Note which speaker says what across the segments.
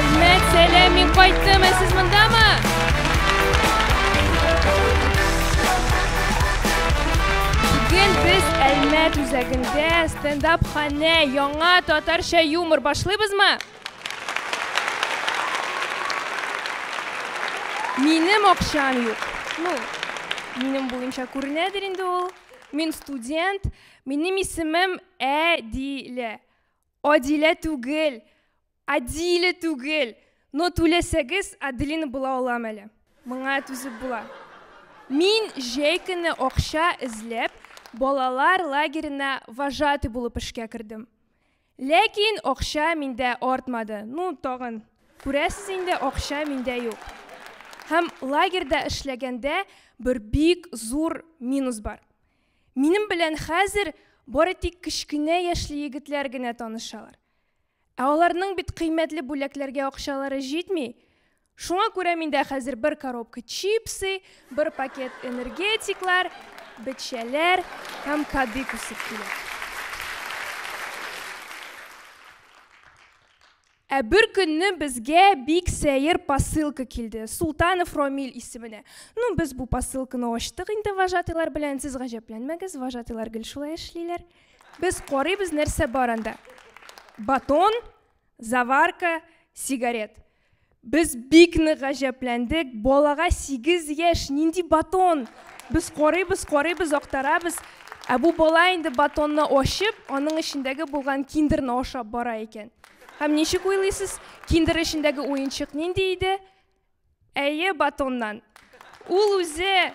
Speaker 1: Әлмәт, сәләм, мин кайттым, ә сез мондамы? Бүген без Әлмәт үзәгендә стендап ханә яңа татарча юмор башлыйбызмы? Минем акчам юк. Ну, минем буенча күренәдер инде ул. Мин студент, Минем исемем Әдилә. Адилә түгел, Адиле түгел. Но түләсәгез, Аделина була алам әле. Моңа түзеп була. Мин җәй көне акча эзләп, балалар лагерена вожатый булып эшкә кердем. Ләкин акча миндә артмады. Ну, тагын, күрәсез инде, акча миндә юк. Һәм лагерьда эшләгәндә бер бик зур минус бар. Минем белән хәзер бары тик кечкенә яшьле егетләр генә танышалар. Ә аларның бит кыйммәтле бүләкләргә акчалары җитми. Шуңа күрә миндә хәзер бер коробка чипсы, бер пакет энергетиклар, бетчәләр һәм кадык үсеп килә. Ә бер көнне безгә бик сәер посылка килде, Султанов Ромиль исеменә. Ну, без бу посылканы ачтык инде вожатыйлар белән, сез гаҗәпләнмәгез, вожатыйлар гел шулай эшлиләр. Без карыйбыз, нәрсә бар анда. Батон, заварка, сигарет. Без бик нык гаҗәпләндек, балага 8 яшь, нинди батон? Без карыйбыз, карыйбыз, актарабыз. Ә бу бала инде батонны ачып, аның эчендәге булган киндерны ашап бара икән. Һәм ничек уйлыйсыз, киндер эчендәге уенчык нинди иде? Әйе, батоннан. Ул үзе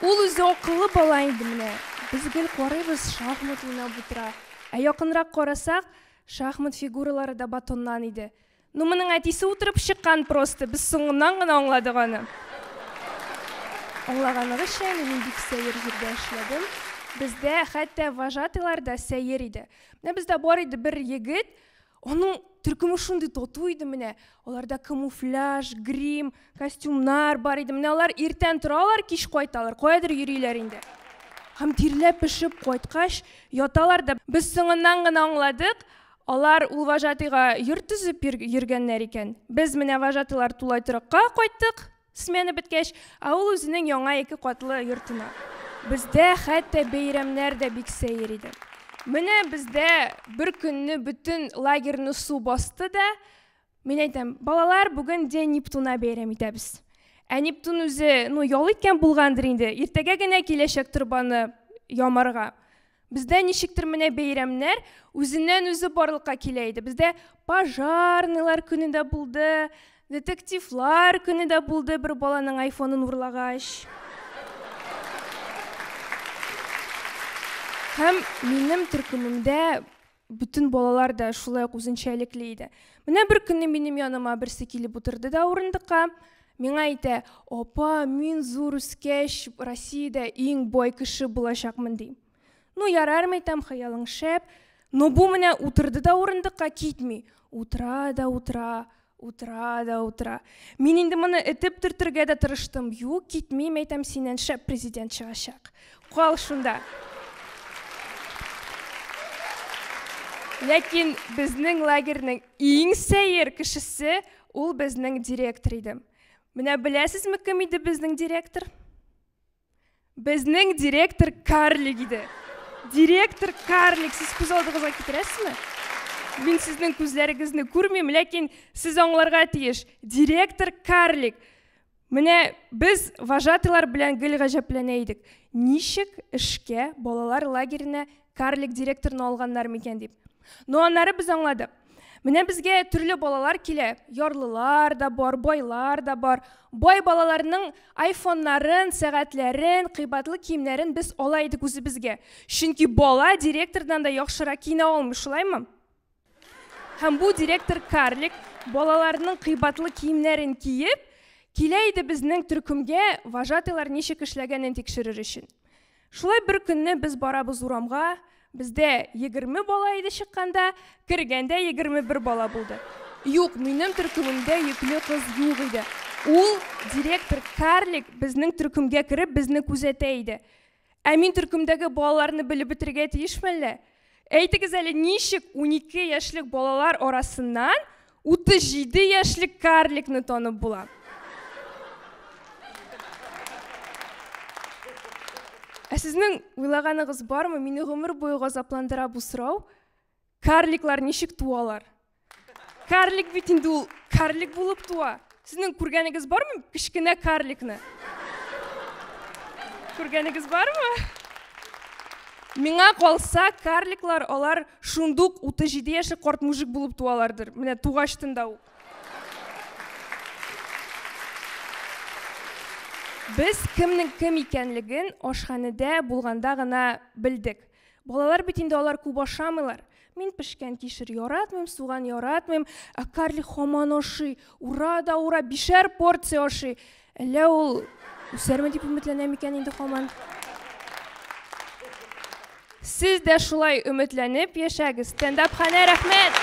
Speaker 1: Ул үзе акыллы бала инде менә. Без гел карыйбыз, шахмат уйнап утыра. Ә якынрак карасак, шахмат фигуралары да батоннан иде. Ну моның әтисе утырып чыккан просто, без соңыннан гына аңладык аны. Аңлаганыгызча, мин бик сәер җирдә эшләдем. Бездә хәтта вожатыйлар да сәер иде. Менә бездә бар иде бер егет, аның төркеме шундый тату иде менә. Аларда камуфляж, грим, костюмнар бар иде. Менә алар иртән торалар, кич кайталар. Каядыр йөриләр инде. Һәм тирләп пешеп кайткач, яталар да. Без соңыннан гына аңладык, Алар ул вожатыйга йорт төзеп йөргәннәр икән. Без менә вожатылар тулай торакка кайттык, смена беткәч, ә ул үзенең яңа ике катлы йортына. Бездә хәтта бәйрәмнәр дә бик сәер иде. Менә бездә бер көнне бөтен лагерьны су басты да, Мин әйтәм, балалар, бүген день Нептуна бәйрәм итәбез. Ә Нептун үзе, ну, ял иткән булгандыр инде. Иртәгә генә киләчәк торбаны ямарга. Бездә ничектер менә бәйрәмнәр үзеннән үзе барлыкка килә иде. Бездә пожарныйлар көне дә булды, детективлар көне дә булды, бер баланың айфонын урлагач. Һәм минем төркемемдә Бөтен балалар да шулай ук үзенчәлекле иде. Менә бер көнне минем яныма берсе килеп утырды да урындыкка, миңа әйтә, апа, мин зур үскәч Россиядә иң бай кеше булачакмын ди. Ну, ярар мәйтәм, хыялың шәп. Но бу менә утырды да урындыкка китми. Утыра да утыра, Утыра да утыра. Мин инде моны этеп төртергә дә тырыштым. Юк, китмим, әйтәм, синнән шәп президент чыгачак. Кал шунда. Ләкин безнең лагерьнең иң сәер кешесе ул безнең директор иде. Менә беләсезме, кем иде безнең директор? Безнең директор карлик иде. Директор карлик, сез күз алдыгызга китерәсезме? Мин сезнең күзләрегезне күрмим, ләкин сез аңларга тиеш. Директор карлик. Менә без вожатыйлар белән гел гаҗәпләнә идек. Ничек эшкә балалар лагеренә карлик директорны алганнар микән дип но аннары без аңладык менә безгә төрле балалар килә ярлылар да бар байлар да бар бай балаларның айфоннарын сәгатьләрен кыйбатлы киемнәрен без ала идек үзебезгә чөнки бала директордан да яхшырак киенә алмый шулаймы Һәм бу директор Карлик балаларның кыйбатлы киемнәрен киеп, килә иде безнең төркемгә вожатыйлар ничек эшләгәнен тикшерер өчен. Шулай бер көнне без барабыз урамга, бездә егерме бала иде чыкканда, кергәндә егерме бер бала булды. Юк, минем төркемемдә йөкле кыз юк иде. Ул директор Карлик безнең төркемгә кереп, безне күзәтә иде. Ә мин төркемдәге балаларны белеп бетерергә тиешме әллә? Әйтегез әле, ничек 12 яшьлек балалар арасыннан 37 яшьлек карликны танып була? Ә сезнең уйлаганыгыз бармы? Мине гомер буе газапландыра бу сорау. Карликлар ничек туалар? Карлик бит инде ул карлик булып туа. Сезнең күргәнегез бармы кечкенә карликны? Күргәнегез бармы? Миңа калса, карликлар алар шундук 37 яше корт мужик булып туалардыр. Менә тугач тында ук. Без кемнең кем икәнлеген ашханәдә булганда гына белдек. Балалар бит инде алар күп ашамыйлар. Мин пешкән кишер яратмыйм, суган яратмыйм, ә Карли хаман ашый. Ура да ура, бишәр порция ашый. Әллә ул үсәрме дип өметләнәм икән инде хаман. Сез дә шулай өметләнеп яшәгез. Стендап ханә рәхмәт.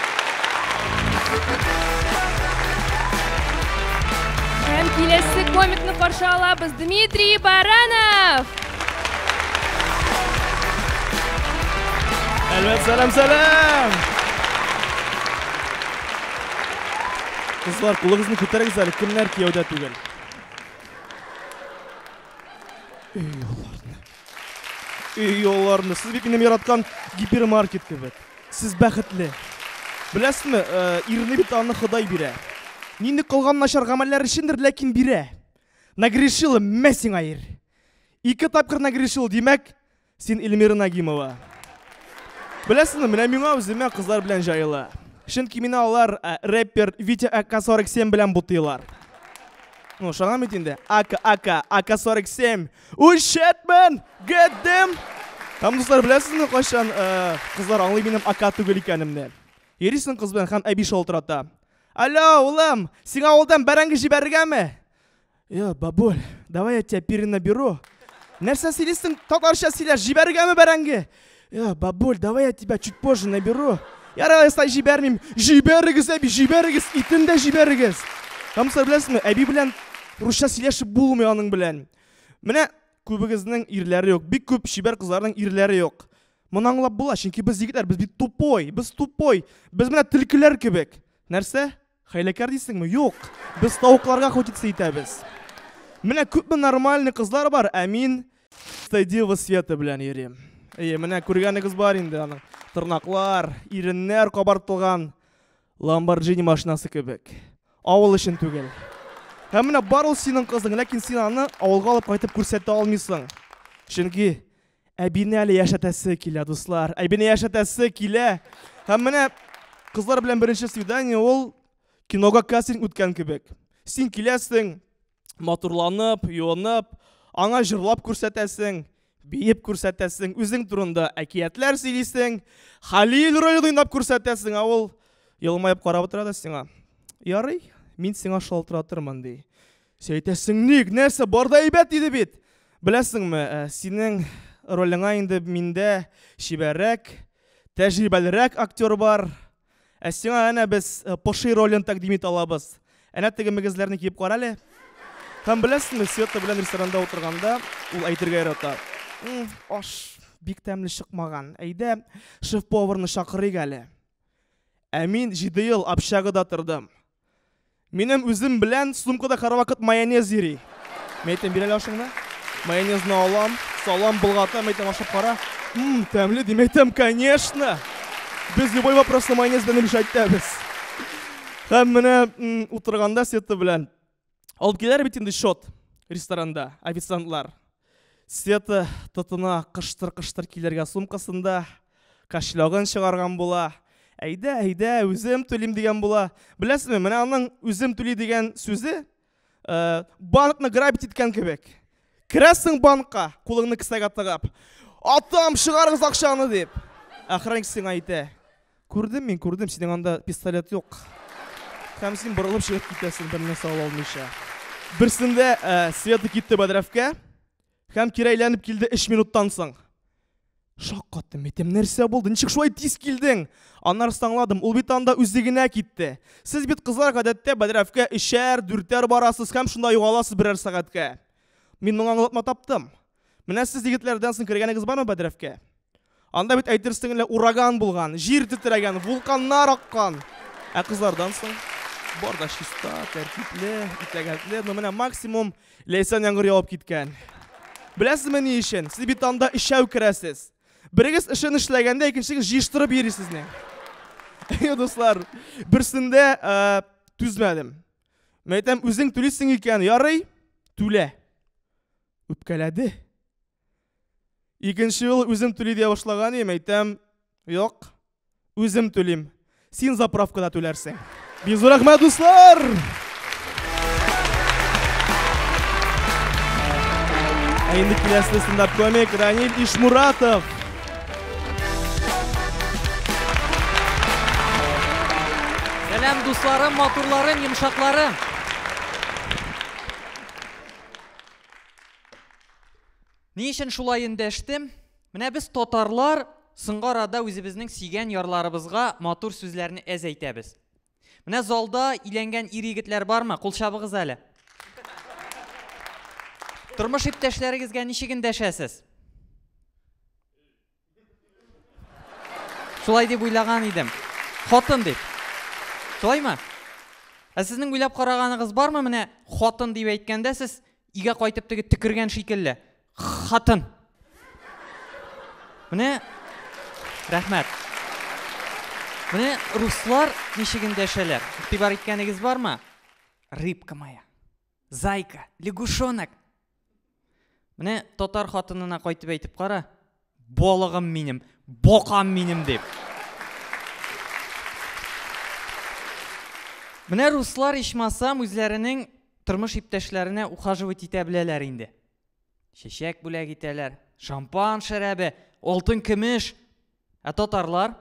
Speaker 1: Һәм киләсе комикны каршы алабыз Дмитрий Баранов. Әлбәт, сәлам, сәлам! Кызлар, кулыгызны күтәрегез әле, кемнәр кияүдә түгел? Өй юлларны. Өй юлларны. Сез бит минем яраткан гипермаркет кебек. Сез бәхетле. Беләсезме, э, ирне бит аны Ходай бирә. Нинди кылган начар гамәлләр өчендер, ләкин бирә. Нагрешила, мә сиңа ир. Ике тапкыр нагрешил, димәк, син Эльмира Нагимова. Беләсеңме, менә миңа үземә кызлар белән җайлы. Чөнки мине алар э, рэпер Витя АК-47 белән бутыйлар. Ну, шагам бит инде. АК, АК, АК-47. Ушетмен! Get them! Там дуслар беләсезме, кайчан э, кызлар аңлый минем АК түгел икәнемне. Йөрисең кыз белән һәм әби шалтырата. Алло, улым, сиңа авылдан бәрәңге җибәрергәме? Йо, бабуль, давай я тебя перенаберу. Нәрсә сөйлисең? Татарча сөйлә, җибәргәме бәрәңге? Йо, бабуль, давай я тебя чуть позже наберу. Ярар, сай җибәрмим. Җибәрегез, әби, җибәрегез, итен дә җибәрегез. Камсар беләсезме, әби белән русча сөйләшеп булмый аның белән. Менә күбегезнең ирләре юк. Бик күп чибәр кызларның ирләре юк. Моны аңлап була, чөнки без егетләр, без бит тупой, без тупой. Без менә төлкеләр кебек. Нәрсә? Хәйләкәр дисеңме? Юк. Без тавыкларга худицы итәбез. Менә күпме нормальный кызлар бар, ә мин Стедива Света белән йөрим. Әйе, менә күргәнегез бар инде аның. Тырнаклар, иреннәр кабартылган Ламборджини машинасы кебек. Авыл өчен түгел. Һәм менә бар ул синең кызың, ләкин син аны авылга алып кайтып күрсәтә алмыйсың. Чөнки Әбине әле яшәтәсе килә, дуслар. Әбине яшәтәсе килә. Һәм менә кызлар белән беренче свидание ул кинога кастинг үткән кебек. Син киләсең, матурланып, юынып, аңа җырлап күрсәтәсең, биеп күрсәтәсең, үзең турында әкиятләр сөйлисең, Халил район уйнап күрсәтәсең, ә ул елмаеп карап утыра да сиңа. Ярый, мин сиңа шалтыратырмын, ди. Син әйтәсең ник, нәрсә, бар да әйбәт иде бит. Беләсеңме, э, синең ролеңа инде миндә чибәррәк, тәҗрибәлерәк актер бар. Ә сиңа әнә без э, поши ролен тәкъдим итә алабыз. Әнә теге мөгезләрне киеп кара әле. Һәм беләсеңме, Света белән ресторанда утырганда ул әйтергә ярата. «М, Аш бик тәмле чыкмаган. Әйдә, шеф-поварны чакырыйк әле. Ә мин җиде ел общагада тордым. Минем үзем белән сумкада һәрвакыт майонез йөри. Мин әйтәм, бир әле ашыңны. Майонезны алам, салам, болгатам, әйтәм, ашап кара. Мм, тәмле дим, әйтәм, конечно. Без любой вопросны майонез белән решать итәбез. Һәм менә утырганда Света белән алып киләләр бит инде счет ресторанда официантлар света тотына кыштыр кыштыр килергә сумкасында кошелегын чыгарган була әйдә әйдә үзем түлим дигән була беләсезме менә аның үзем түли дигән сүзе ә, банкны грабить иткән кебек керәсең банкка кулыңны кесәгә тыгып атам чыгарыгыз акчаны дип охранник сиңа әйтә Күрдем мин, күрдем, синең анда пистолет юк. Һәм син борылып чыгып китәсең, берне сау алмыйча. Берсендә ә, э, Света китте бәдрәфкә, һәм кире әйләнеп килде 3 минуттан соң. Шаккаттым, әйтем, нәрсә булды? Ничек шулай тиз килдең? Аннары аңладым, ул бит анда үзе генә китте. Сез бит кызлар гадәттә бәдрәфкә өчәр, дүртәр барасыз һәм шунда югаласыз берәр сәгатькә. Мин моңа аңлатма таптым. Менә сез егетләрдән соң кергәнегез бармы Бәдрәфкә? Анда бит әйтерсең лә ураган булган, җир тетрәгән, вулканнар аккан. Ә кызлардан соң бар да чиста, тәртипле, итәгатьле. Ну менә максимум ләйсән яңгыр явып киткән. Беләсезме ни өчен? Сез бит анда өчәү керәсез. Берегез эшен эшләгәндә, икенчегез җыештырып йөрисез ни. Әйе, дуслар, берсендә э, түзмәдем. Мәйтәм, үзең түлисең икән, ярый, түлә. Үпкәләде. Икенче ел үзем түли дия башлаган идем, әйтәм, юк, үзем түлим. Син заправкада түләрсең. Бик зур рәхмәт, дуслар! Ә инде киләсе стендап комик Ранил Ишмуратов. Сәлам дусларым, матурларым, йомшакларым. Ни өчен шулай эндәштем? Менә без татарлар соңгы арада үзебезнең сөйгән ярларыбызга матур сүзләрне әз әйтәбез. Менә залда иләнгән ир егетләр бармы? Кул чабыгыз әле. Тормыш иптәшләрегезгә ничек эндәшәсез? Шулай дип уйлаган идем. Хатын дип. Шулаймы? Ә сезнең уйлап караганыгыз бармы? Менә хатын дип әйткәндә сез игә кайтып теге төкергән шикелле. Хатын. Менә рәхмәт. Менә руслар ничек эндәшәләр? Игътибар иткәнегез бармы? Рыбка моя. Зайка, лягушонок. Менә татар хатынына кайтып әйтеп кара, балыгым минем, бокам минем дип. Менә руслар ичмасам үзләренең тормыш иптәшләренә ухаживать итә беләләр инде. Чәчәк бүләк итәләр, шампан шәрабе, алтын көмеш. Ә татарлар?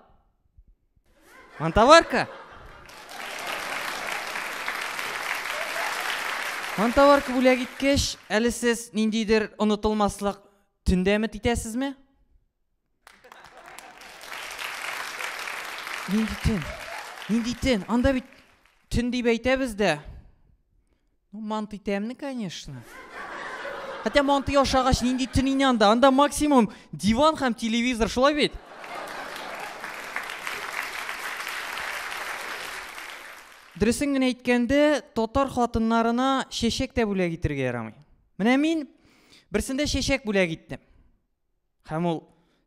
Speaker 1: Монтоварка? Монтоварка бүләк иткәч, әле сез ниндидер онытылмаслык төндә өмет итәсезме? Нинди төн? Нинди төн? Анда бит төн дип әйтәбез дә, Ну, манты тәмле, конечно. Хотя манты ашагач нинди төнин анда? Анда максимум диван һәм телевизор, шулай бит? Дөресен генә әйткәндә, татар хатыннарына чәчәк тә бүләк итергә ярамый. Менә мин берсендә чәчәк бүләк иттем. Һәм ул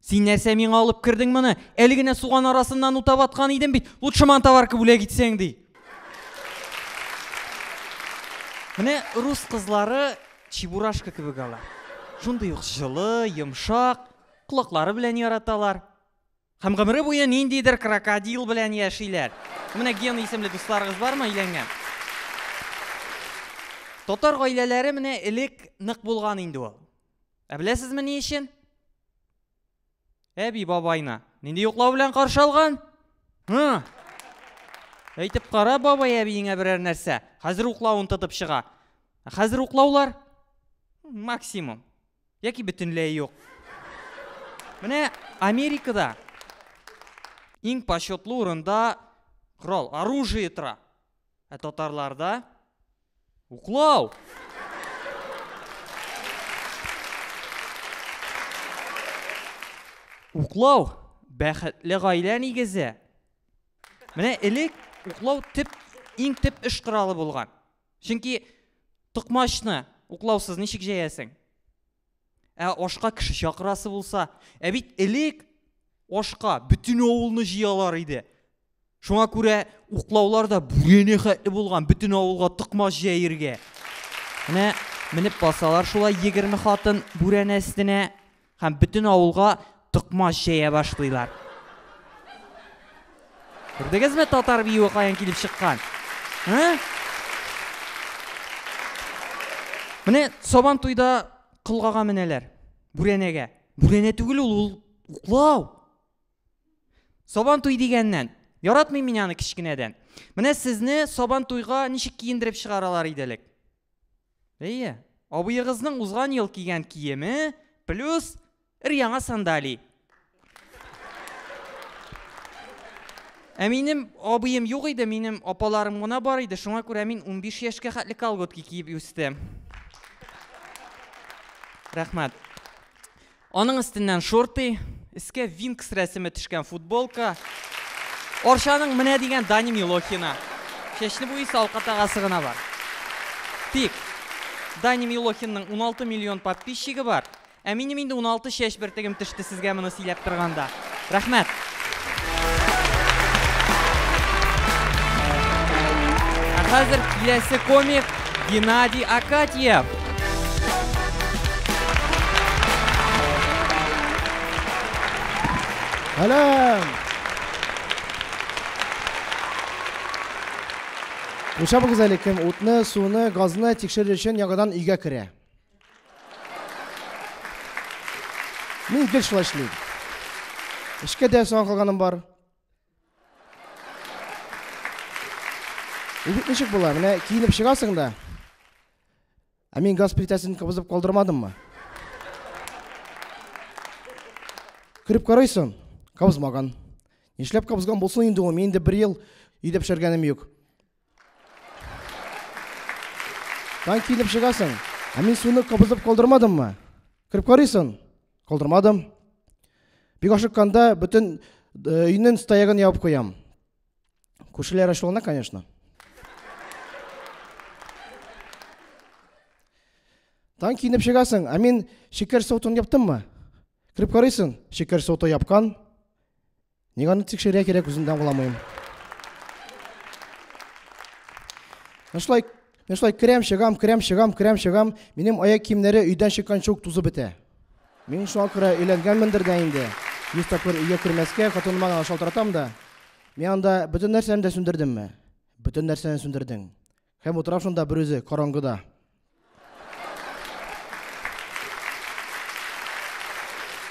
Speaker 1: Син нәрсә миңа алып кердең моны? Әле генә суган арасыннан утап аткан идем бит. Лучше мантоварка бүләк итсәң ди. Менә рус кызлары чебурашка кебек алар. Шундый ук җылы, йомшак, колаклары белән яраталар. Һәм гомере буе ниндидер крокодил белән яшиләр. Менә Ген исемле дусларыгыз бармы өйләнгән? Татар гаиләләре менә элек нык булган инде ул. Ә беләсезме ни өчен? Әби бабайны нинди йоклау белән каршы алган? Һы? Әйтеп кара бабай әбиеңә берәр нәрсә. Хәзер уклавын тотып чыга. Хәзер уклаулар максимум яки бөтенләй юк. Менә Америкада иң почетлы урында корал, оружие тора. Ә татарларда уклау. Уклау бәхетле гаилә нигезе. Менә элек уклау тип иң тип эш коралы булган. Чөнки токмачны уклаусыз ничек җәясең? Ә ашка кеше чакырасы булса, ә бит элек ашка бөтен авылны җыялар иде. Шуңа күрә уклаулар да бүрене хәтле булган, бөтен авылга токмач җәергә. Менә менеп басалар шулай 20 хатын бүрәнә өстенә һәм бөтен авылга токмач җәя башлыйлар. Күрдегезме татар биюе каян килеп чыккан? Һә? Менә сабан туйда кылгага менәләр. Бүрәнәгә. Бүрәнә түгел ул, ул уклау. Сабан туй дигәннән, яратмыйм мин аны кечкенәдән. Менә сезне сабан туйга ничек киендереп чыгаралар иде элек? Әйе, абыегызның узган ел кигән киеме плюс ир яңа сандали. Ә минем абыем юк иде, минем апаларым гына бар иде, шуңа күрә мин 15 яшькә хәтле колготки киеп үстем. Рәхмәт. Аның өстеннән шорты, өскә Винкс рәсеме төшкән футболка, Арчаның менә дигән Даня Милохина. Чәчне буйысы алка тагасы гына бар. Тик Даня Милохинның 16 миллион подписчигы бар, ә минем инде 16 чәч бөртегем төште сезгә моны сөйләп торганда. Рәхмәт. Ә хәзер киләсе комик Геннадий Акатьев. Әләм! Кушабыгыз әле кем утны, суны, газны тикшерер өчен яңадан өйгә керә. Мин гел шулай эшлим. Эшкә дә соң калганым бар. Егет ничек була? Менә киенеп чыгасың да. Ә мин газ плитәсен кабызып калдырмадыммы? Күреп карыйсың, кабызмаган. Нишләп кабызган булсын инде ул? Мин инде бер ел өйдә пешергәнем юк. Танк килеп чыгасың. Ә мин суны кабызып калдырмадыммы? Кереп карыйсың? Калдырмадым. Бик ашыкканда бөтен э, өйнең стоягын ябып куям. Күршеләр ачулана, конечно. Танк киенеп чыгасың, ә мин шикәр сотын яптыммы? Кереп карыйсың, шикәр соты япкан. Ник аны тикшерә кирәк, үзем дә аңламыйм. Мен шулай, мен шулай керәм, чыгам, керәм, чыгам, керәм, чыгам. Минем аяк киемнәре өйдән чыкканчы ук тузып бетә. Мин шуңа күрә өйләнгәнмендер дә инде. Йөз тапкыр өйгә кермәскә, хатыныма гына шалтыратам да. Мин анда бөтен нәрсәне дә сүндердемме? Бөтен нәрсәне сүндердең. Һәм утыра шунда берүзе, караңгыда.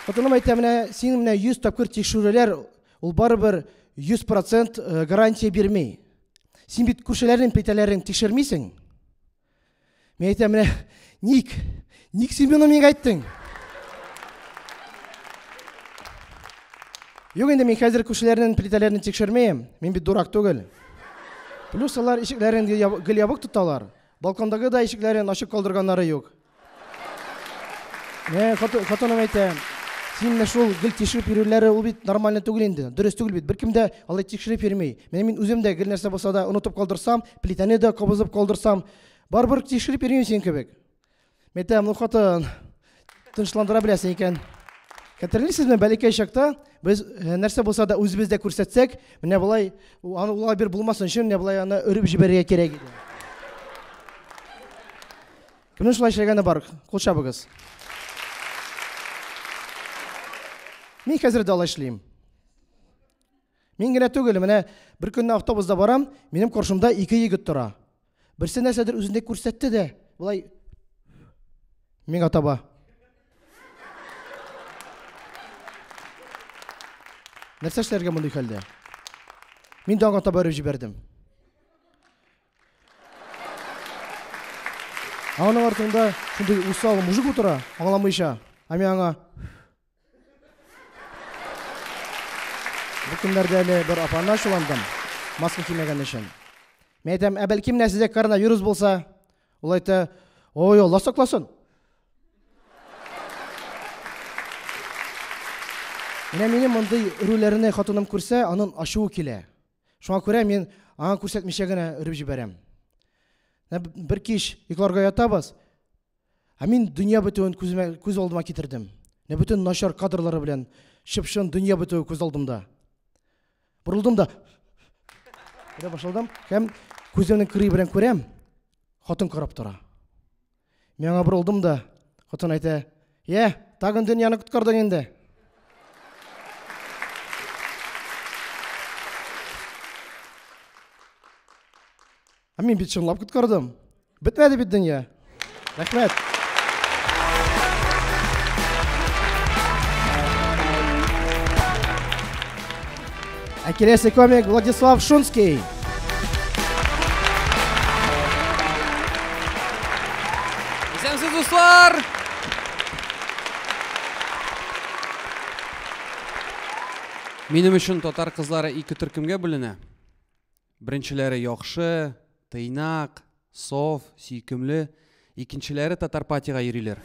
Speaker 1: Хатыным әйтә, менә син менә 100 тапкыр тикшерүләр, ул барыбер 100% э, гарантия бирми. Син бит күршеләрнең петәләрен тикшермисең. Мен әйтә, менә ник? Ник син моны миңа әйттең? Юк инде мин хәзер күршеләрнең плитәләрен тикшермим. Мин бит дурак түгел. Плюс алар ишекләрен гел ябык тоталар. Балкондагы да ишекләрен ачык калдырганнары юк. Мә, хатыным әйтә, син менә шул гел тикшереп йөрүләре ул бит нормально түгел инде. Дөрес түгел бит. Беркем дә алай тикшереп йөрми. Менә мин үзем дә гел нәрсә булса да онытып калдырсам, плитәне дә кабызып калдырсам, барыбер тикшереп йөрмим син кебек. Мин тәмле хатын. Тынычландыра беләсең икән. Хәтерлисезме, бәләкәй чакта без э, нәрсә булса да үзебездә күрсәтсәк, менә болай аны улай бер булмасын өчен менә болай аны өреп җибәрергә кирәк иде. Кемнең шулай эшләгәне бар? Кул чабыгыз. Мин хәзер дә алай эшлим. Мин генә түгел, менә бер көнне автобуста барам, минем каршымда ике егет тора. Берсе нәрсәдер үзендә күрсәтте дә, болай миңа таба. Нәрсә эшләргә мондый хәлдә? Мин дә аңа таба җибәрдем. Аның артында шундый усал мужик утыра, аңламыйча. Ә мин аңа Бу көннәрдә әле бер апаны ачуландым, маска кимәгән өчен. Мин әйтәм, ә бәлки менә сездә коронавирус булса? Ул әйтә, ой, Алла сакласын. Менә минем мондый үрүләрне хатыным күрсә, аның ачуы килә. Шуңа күрә мин аңа күрсәтмичә генә өреп җибәрәм. Бер кич йокларга ятабыз, Ә мин дөнья бетүен күземә, күз алдыма китердем. Менә бөтен начар кадрлары белән чып-чын дөнья бетүе күз алдымда. Борылдым да Күрә башладым һәм күземнең кырые белән күрәм, хатын карап тора. Миңа борылдым да, хатын әйтә, «Йә, тагын дөньяны коткардың инде». Ә мин бит чынлап коткардым. Бетмәде бит дөнья. Рәхмәт. Ә киләсе комик Владислав Шунский. Исәнсез, дуслар! Минем өчен татар кызлары ике төркемгә бүленә. Беренчеләре яхшы, тыйнак, саф, сөйкемле, икенчеләре татар патига йөриләр.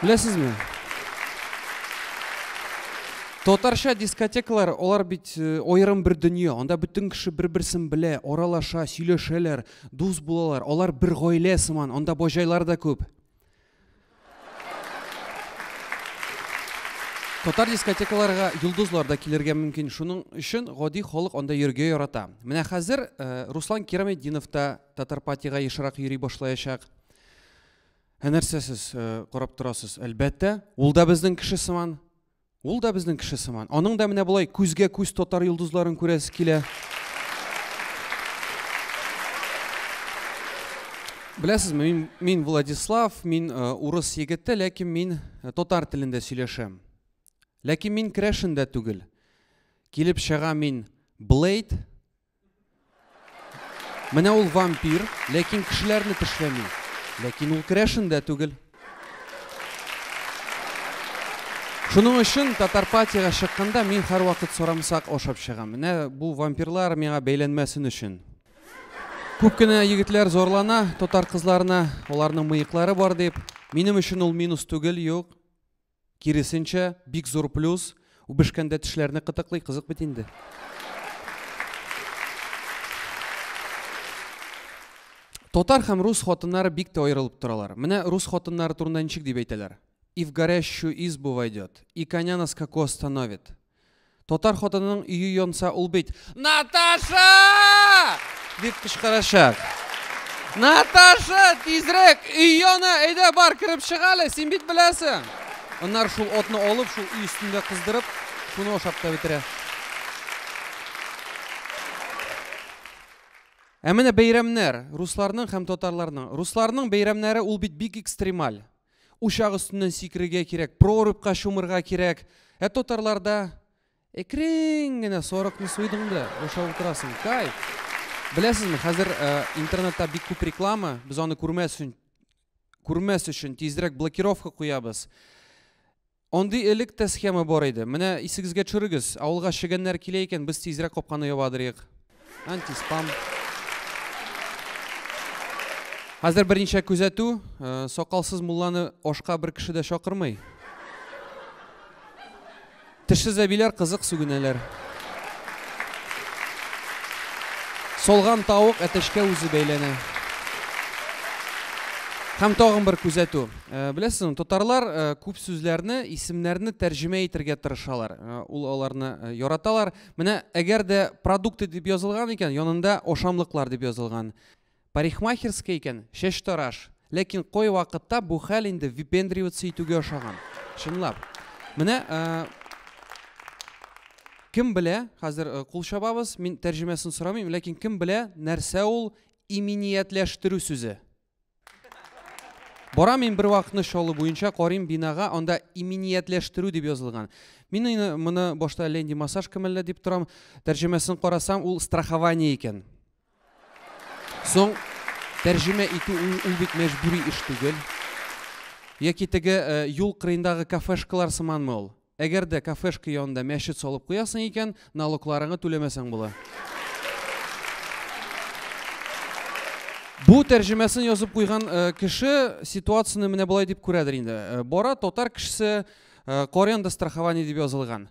Speaker 1: Беләсезме? Татарча дискотекалар, алар бит э, аерым бер дөнья. Анда бөтен кеше бер-берсен белә, аралаша, сөйләшәләр, дус булалар. Алар бер гаилә сыман, анда бажайлар да күп. Татар дискотекаларга йолдызлар да килергә мөмкин. Шуның өчен гади халык анда йөргә ярата. Менә хәзер Руслан Кираметдинов та Татарпатига ешрак йөри башлаячак. Ә нәрсә сез карап торасыз? Әлбәттә, ул да безнең кеше сыман. Ул да безнең кеше сыман. Аның да менә болай күзгә күз татар йолдызларын күрәсе килә. Беләсезме, мин, мин Владислав, мин э, урыс егете, ләкин мин э, татар телендә сөйләшәм. Ләкин мин крәшендә түгел. Килеп чыга мин Блейд Менә ул вампир, ләкин кешеләрне тешләми. Ләкин ул керәшен дә түгел. Шуның өчен Татарпатиягә чыкканда мин һәрвакыт сорамсак ашап чыгам. Менә бу вампирлар миңа бәйләнмәсен өчен. Күп кенә егетләр зарлана татар кызларына, аларның мыеклары бар дип. Минем өчен ул минус түгел, юк. Киресенчә, бик зур плюс, үбешкәндә тешләрне кытыклый, кызык бит инде. Татар һәм рус хатыннары бик тә аерылып торалар. Менә рус хатыннары турында ничек дип әйтәләр. И в горящую избу войдет, и коня на скаку остановит. Татар хатынының өе янса, ул бит Наташа! дип кычкырачак. Наташа, тизрәк, өй яна, әйдә бар, кереп чык әле, син бит беләсең. Аннар шул отны алып, шул өй өстендә кыздырып, шуны ашап та бетерә. Ә менә бәйрәмнәр, русларның һәм татарларның. Русларның бәйрәмнәре ул бит бик экстремаль. Учак өстеннән сикерергә кирәк, прорубька чумырга кирәк. Ә татарларда әкрен генә сарыкны суйдың да, бушап утырасың. Кай. Беләсезме, хәзер э, интернетта бик күп реклама, без аны күрмәс өчен, күрмәс өчен тизрәк блокировка куябыз. Андый элек тә схема бар иде. Менә исегезгә төшерегез, авылга чегәннәр килә икән, без тизрәк капканы ябадырыйк. Антиспам. Хәзер берничә күзәтү, э, сакалсыз мулланы ашка бер кеше дә чакырмый. Тешсез әбиләр кызык сүгенәләр. Солган тавык әтәчкә үзе бәйләнә. Һәм тагын бер күзәтү. Беләсезме, татарлар күп сүзләрне, исемнәрне тәрҗемә итергә тырышалар. Ул аларны яраталар. Менә әгәр дә продукты дип язылган икән, янында ашамлыклар дип язылган. Парикмахерская икән, чәчтараш. Ләкин кой вакытта бу хәл инде випендриваться итүгә ошаган. Чынлап. Менә кем белә, хәзер кул чабабыз, мин тәрҗемәсен сорамыйм, ләкин кем белә, нәрсә ул иминиятләштерү сүзе? Бара мин бер вакытны Чаллы буенча карыйм бинага, анда иминиятләштерү дип язылган. Мин аны моны башта Ленди массаж кемәллә дип торам. Тәрҗемәсен карасам, ул страхование икән. Соң тәрҗемә итү ул, ул бит мәҗбүри эш түгел. Яки теге э, юл кырыендагы кафешкалар сыманмы ул? Әгәр дә кафешка янында мәчет салып куясың икән, налогларыңны түләмәсәң була. Бу тәрҗемәсен язып куйган э, кеше ситуацияне менә болай дип күрәдер инде. Э, бара татар кешесе э, Корианда страхование дип язылган.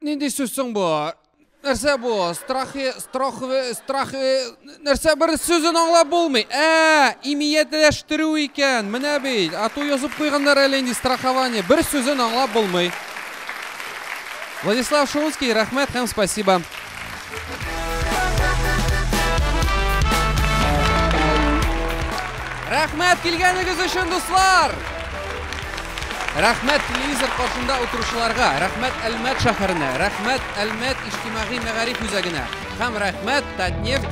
Speaker 1: Нинди сүз соң бу? Нәрсә бу? Страхи, страхве, страхве, нәрсә бер сүзен аңлап булмый. Ә, имиятләштерү икән. Менә бит. Ату язып куйганнар әле инде страхование. Бер сүзен аңлап булмый. Владислав Шумский, рәхмәт һәм спасибо. Рәхмәт килгәнегез өчен, дуслар! Рәхмәт телевизор каршында утыручыларга, рәхмәт Әлмәт шәһәренә, рәхмәт Әлмәт иҗтимагый мәгариф үзәгенә һәм рәхмәт Татнефть